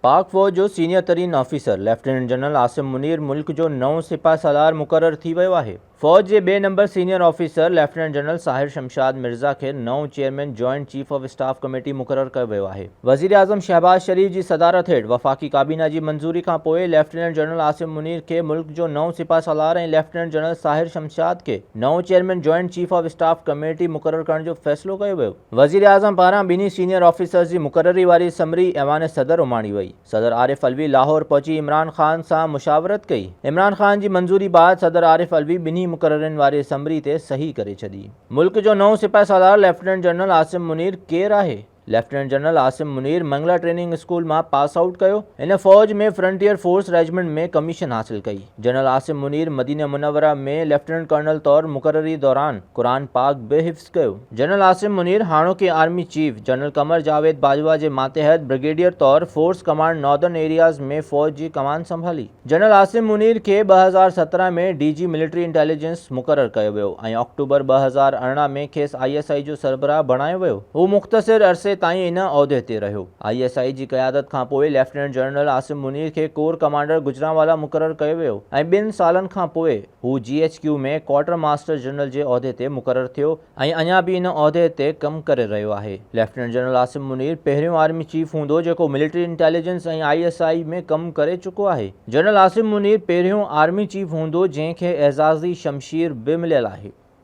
پاڪ فوج جو سينيئر ترين officer lieutenant general Asim Munir ملڪ جو نئون سپهه سالار مقرر ٿي ويو آهي. فوج جي ٻئي نمبر senior officer lieutenant general Sahir Shamshad Mirza کي نئون chairman joint chief of staff committee مقرر ڪيو ويو آهي. وزيراعظم شهباز شريف جي صدارت هيٺ وفاقي ڪابينا جي منظوري کانپوء ليفٽيننٽ جنرل عاصم منير کي ملڪ جو نئون سپهه سالار ۽ ليفٽيننٽ جنرل ساحر شمشاد کي نئون chairman joint chief of staff committee مقرر ڪرڻ جو فيصلو ڪيو ويو. وزيراعظم پاران ٻنهي سينيئر آفيسرز جي مقرري واري سمري ايوان صدر اماڻي وئي، صدر عارف علوي لاهور پهچي عمران خان سان مشاورت ڪئي، عمران خان جي منظوري بعد صدر عارف علوي ٻنهي مقررين واري سمري تي صحيح ڪري ڇڏي. ملڪ جو نئون سپهه سالار ليفٽيننٽ جنرل عاصم منير ڪير آهي؟ Lieutenant general Asim Munir Mangla training school مان پاس آئوٽ ڪيو، هن فوج ۾ فرنٽيئر فورس ريجمنٽ ۾ ڪميشن حاصل ڪئي، جنرل عاصم منير مدينه منوره ۾ ليفٽيننٽ ڪرنل طور مقرري دوران قرآن پاڪ به حفظ ڪيو. جنرل عاصم منير هاڻوڪي army chief general Qamar Javed Bajwa جي ماتحت برگيڊيئر طور فورس ڪمانڊ ناردرن ايرياز ۾ فوج جي ڪمان سنڀالي. جنرل عاصم منير کي ٻه هزار سترهن ۾ ڊي جي ملٽري انٽيليجنس مقرر ڪيو ويو ۽ آڪٽوبر ٻه هزار ارڙهن ۾ کيس آء ايس آء جو سربراهه بڻايو ويو. هو مختصر عرصي تائين ان عهدي تي رهيو. آء ايس آء جي قيادت کانپوء ليفٽيننٽ جنرل عاصم منير کي ڪور ڪمانڊر گجرانوالا مقرر ڪيو ويو ۽ ٻن سالن کانپوء هو G H Q ۾ quartermaster general جي عهدي تي مقرر ٿيو ۽ اڃا به ان عهدي تي ڪم ڪري رهيو آهي. ليفٽيننٽ جنرل عاصم منير پهريون آرمي چيف هوندو جيڪو military intelligence ۽ I S I ۾ ڪم ڪري چڪو آهي. جنرل عاصم منير پهريون آرمي چيف هوندو جنهن کي اعزازي شمشير به مليل آهي.